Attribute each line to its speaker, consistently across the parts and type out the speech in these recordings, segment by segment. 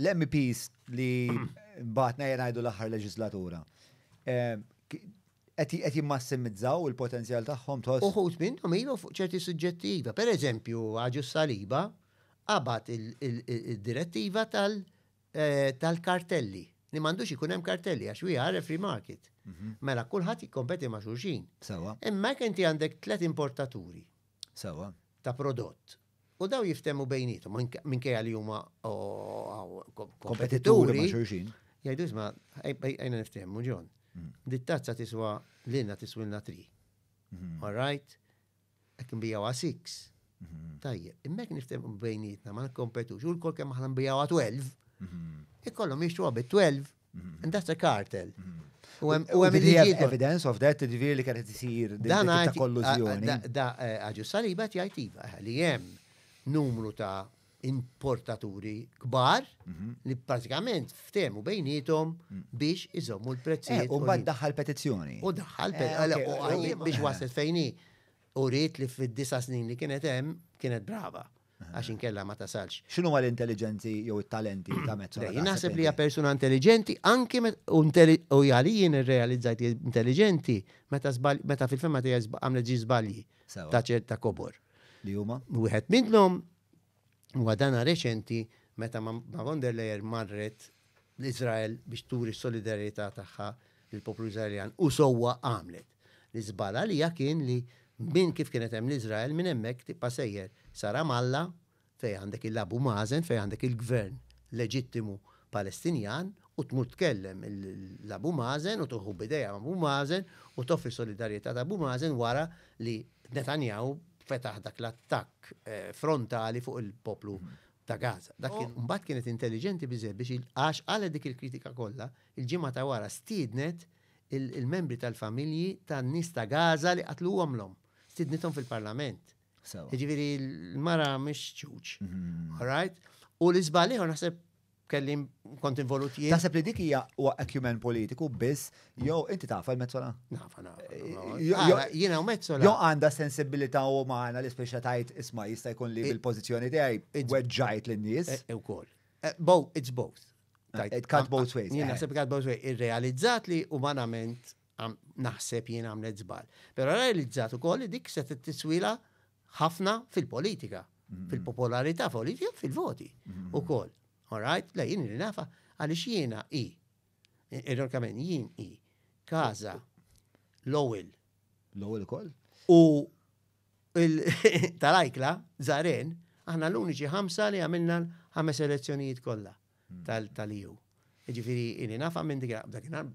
Speaker 1: L-MPs li batna jenajdu l-aħħar leġislatura eh, qed jimmassimizzaw il-potenzjal tagħhom tħoss. Uħut minnhom ilu fuq
Speaker 2: ċerti suġġetti iva. Per eżempju, għaġu saliba qabad il-direttiva eh, tal-kartelli li m'għandux ikun hemm kartelli għax we are a free market. Mhm. Mela kulħadd jikkompeti ma' xulxin. Sawa. Imma
Speaker 1: inti għandek
Speaker 2: tliet importaturi. Sawa.
Speaker 1: Ta' prodott.
Speaker 2: U dawn jiftehmu bejniethom, minkejja li huma kompetituri. Jgħidu
Speaker 1: isma'
Speaker 2: għajna niftehmu ġon. Mm. Dit-tazza tiswa lilna tiswilna tri. Mm-hmm. All right? Qed nbijawha six. Mm-hmm. Tajjeb, immek niftehmu bejnietna ma nkompetux, u l-kol kemm aħna nbijawha 12. Mm-hmm. Ikollhom jixtruha bi 12. And that's a cartel. U hemm il-liġi. Evidence of that,
Speaker 1: ġifieri li kienet isir dan ta' kollużjoni. Da eh, għaġu
Speaker 2: saliba jgħid iva eh, li hemm numru ta' importaturi kbar mhm. li pratikament ftemu bejnietom mhm. biex iżommu l-prezzijiet. Eh, u bad daħħal
Speaker 1: petizzjoni. U daħħal
Speaker 2: biex waslet fejni. U rrit li fid-disa snin li kienet hemm kienet brava. għax inkella ma tasalx. X'inhu ma l-intelligenzi
Speaker 1: jew it-talenti ta' mezz? Jien naħseb li hija persuna
Speaker 2: intelligenti anki u jgħali jien irrealizzajt intelligenti meta fil-fema tiegħi għamlet ġi żbalji ta' ċerta kobor. Li huma?
Speaker 1: Wieħed minnhom
Speaker 2: huwa dana reċenti meta ma' von der Leyen marret l-Izrael biex turi solidarjetà tagħha lill-poplu Izraeljan u sewwa għamlet. L-iżball għalija kien li minn kif kienet hemm l-Iżrael minn hemmhekk tibqa' sejjer sa Ramallah fejn għandek il-Abu Mazen fejn għandek il-gvern leġittimu Palestinjan u tmur tkellem l-Abu Mazen u tuħu b'idejha ma' Abu Mazen u toffri solidarjetà ta' Abu Mazen wara li Netanyahu fetaħ dak l-attakk frontali fuq il-poplu ta' Gaza. Dak kien mbagħad kienet intelliġenti biżżejjed biex għax qalet dik il-kritika kollha, il-ġimgħa ta' wara stiednet il-membri tal-familji tan-nies ta' Gaza li qatlu omlhom. Stidnithom fil-Parlament. Jiġifieri l-mara mhix ċuċ. Mhm. All right? U l-iżbal ieħor naħseb kelli kont involut jien. Taħseb li dik hija huwa
Speaker 1: acumen politiku biss jew inti taf il-mezzola? Nafa, nafa.
Speaker 2: Eh, jiena u mezzola. Jew għandha sensibilità
Speaker 1: umana li speċa tajt isma' jista' jkun li bil-pożizzjoni tiegħi weġġajt lin-nies. Eh, eh, ukoll.
Speaker 2: Bow, it's both. It cut
Speaker 1: both ways. Jien eh. naħseb cut both ways.
Speaker 2: Irrealizzat li umanament naħseb jien għamlet zbal. Pero realizzat u koll dik se t-tiswila ħafna fil-politika, mm-hmm. fil-popolarità politika, fil-voti mm-hmm. u koll. All right? Le, jien li nafa għalix jiena i. Ironkament, jien i. Kaza, l-ewel. L-ewel
Speaker 1: koll? U
Speaker 2: tal-ajkla, zaren, aħna l-uniċi ħamsa li għamilna ħames elezzjonijiet kollha hmm. tal-EU. Ġifiri, inni nafa minn dik dakinhar,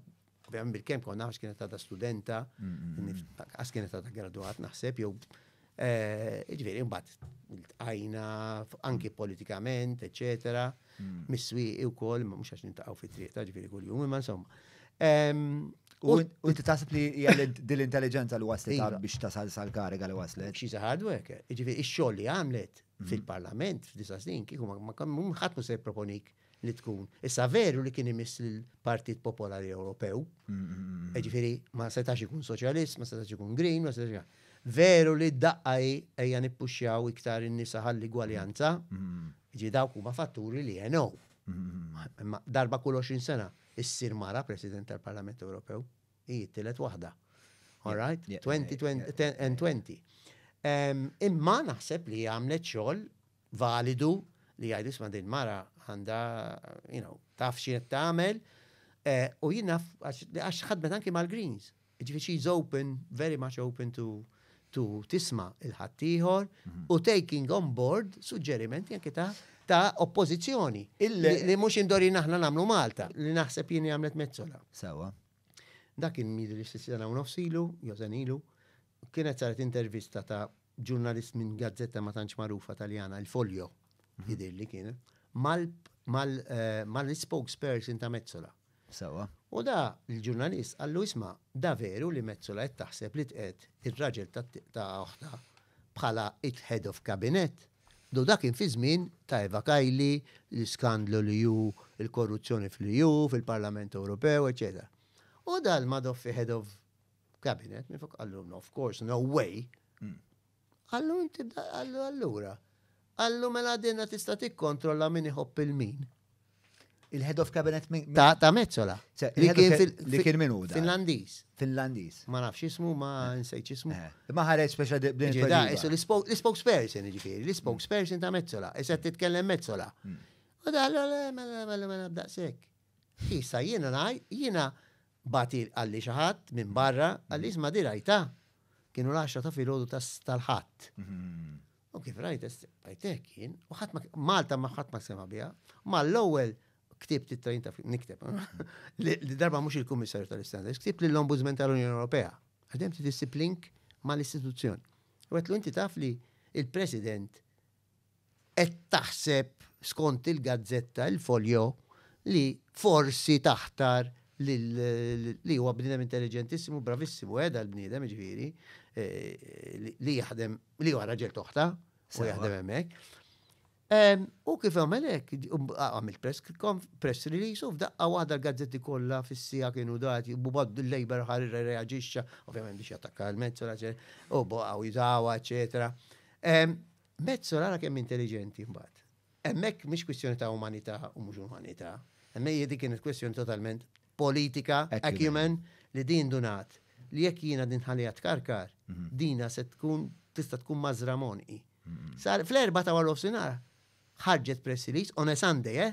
Speaker 2: ovvjament bil-kem konna għax kienet ta' studenta, hmm, hmm, għax kienet ta' graduat naħseb, jew eh, ġifiri, mbagħad għajna anki politikament, eccetera. mis-swieqi wkoll, imma mhux għax nintaqgħu fit-triq ta' ġifieri kuljum, imma insomma.
Speaker 1: U inti taħseb li hija din l-intelligenza li waslet iva. biex tasal sal-kariga li waslet. Xi hard work,
Speaker 2: ġifieri x-xogħol li għamlet mhm. fil-Parlament f'disa' snin kieku ma ħadd se jipproponik li tkun. Issa veru li kien imiss l-Partit Popolari Ewropew, mhm, mhm, ġifieri ma setax ikun soċjalist, ma setax ikun green, ma setax ikun. Veru li d-daqqa ejja nippuxxjaw iktar in-nisa ħalli gwaljanza, Jiġifieri dawk huma fatturi li għenow. Imma darba kull 20 sena ssir mara President tal-Parlament Ewropew, hi t-tielet waħda. All right? 2020. Imma naħseb li għamlet xogħol validu li jgħidu isma' din mara għandha, you know, taf xi tagħmel. Eh, u jien naf għax ħadmet anki mal-Greens, Jiġifieri she is open, very much open to to tisma' il-ħaddieħor u taking on board suġġerimenti anke ta' ta' oppożizzjoni li mhux indorin aħna nagħmlu Malta li naħseb jien għamlet mezzola. Sewa.
Speaker 1: Dak kien
Speaker 2: jidri sitt sena u nofs ilu, jew sen ilu, kienet saret intervista ta' ġurnalist minn gazzetta ma tantx magħrufa Taljana, il-Folio, jidirli kienet, mal-spokesperson ta' Mezzola. Sewwa. U
Speaker 1: da
Speaker 2: l-ġurnalist qallu isma' da veru li Metsola qed taħseb li tqiegħed ir-raġel ta' oħtha bħala il-head of cabinet? U da kien fiż-żmien ta' Eva Kaili, l-iskandlu li hu l-korruzzjoni fl-EU, fil-Parlament Ewropew, eċċetera. U da l-Madoffi head of cabinet, minn fuq qallu no, of course, no way. Qallu inti qallu allura. Qallu mela dinha tista' tikkontrolla min iħobb il-min.
Speaker 1: Il-head of cabinet min? Ta' ta' Mezzola.
Speaker 2: Se- Li il-head of kien ca- fil- li
Speaker 1: kien min hu dan? Finlandiż. Finlandiż.
Speaker 2: Ma nafx ismu, ma nsejt ismu. Eh, Imma ħareġ speċa di-
Speaker 1: b'din Ġi da, it-tweġiba. isu l-ispo- l-spokesperson
Speaker 2: ġifieri, l-spokesperson ta' Mezzola, issa qed titkellem Mezzola. U da, allora, le, mela, mela, mela, b'daqshekk. Issa jiena ngħid, jiena Bagħti qalli xi ħadd minn barra, qalli isma' di rajtha. Kienu l-għaxra ta' filgħodu tal-Ħadd. U kif rajt rajtek jien, u ħadd Malta ma ħadd ma sema biha, ma l-ewwel ktibt it-trajn ta' nikteb. Li darba mhux il-Kummissarju tal-Istandards, ktibt lill-Ombudsman tal-Unjoni Ewropea. Għadem titissib link mal-istituzzjoni. U għetlu inti taf li il-President qed taħseb, skont il-gazzetta Il Foglio, li forsi taħtar lil li huwa bniedem intelliġentissimu, bravissimu, eh, dal-bniedem, jiġifieri, li jaħdem, li huwa raġel toħta, u jaħdem hemmhekk. U kif għamel hekk, għamil press release u f'daqqa waħda l-gazzetti kollha fis-sija kienu dati, u bad l-Labor ħar reaġixxa, ovvjament biex jattakka l-mezzola, u baqgħu jiżawa, eċetera. Mezzo nara kemm intelligenti mbagħad. Hemmhekk mhix kwistjoni ta' umanità u mhux umanità. Hemmhekk dik kienet kwistjoni totalment politika, acumen, li din dunat li jekk jiena din ħalija tkarkar, mhm. dina se tkun tista' tkun mażra monqi. Mhm. Sar fl-erba ta' wara nofsinhar ħarġet press release on a Sunday, eh?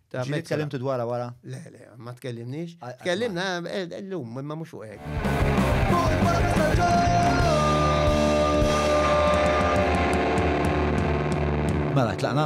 Speaker 2: Ta' Ġili mekka. tkellimtu dwarha wara?
Speaker 1: Le, le, ma
Speaker 2: tkellimniex. Għal- għal- Tkellimna eh, eh, l-lum, imma mhux fuq hekk.
Speaker 1: Mela, tlaqna?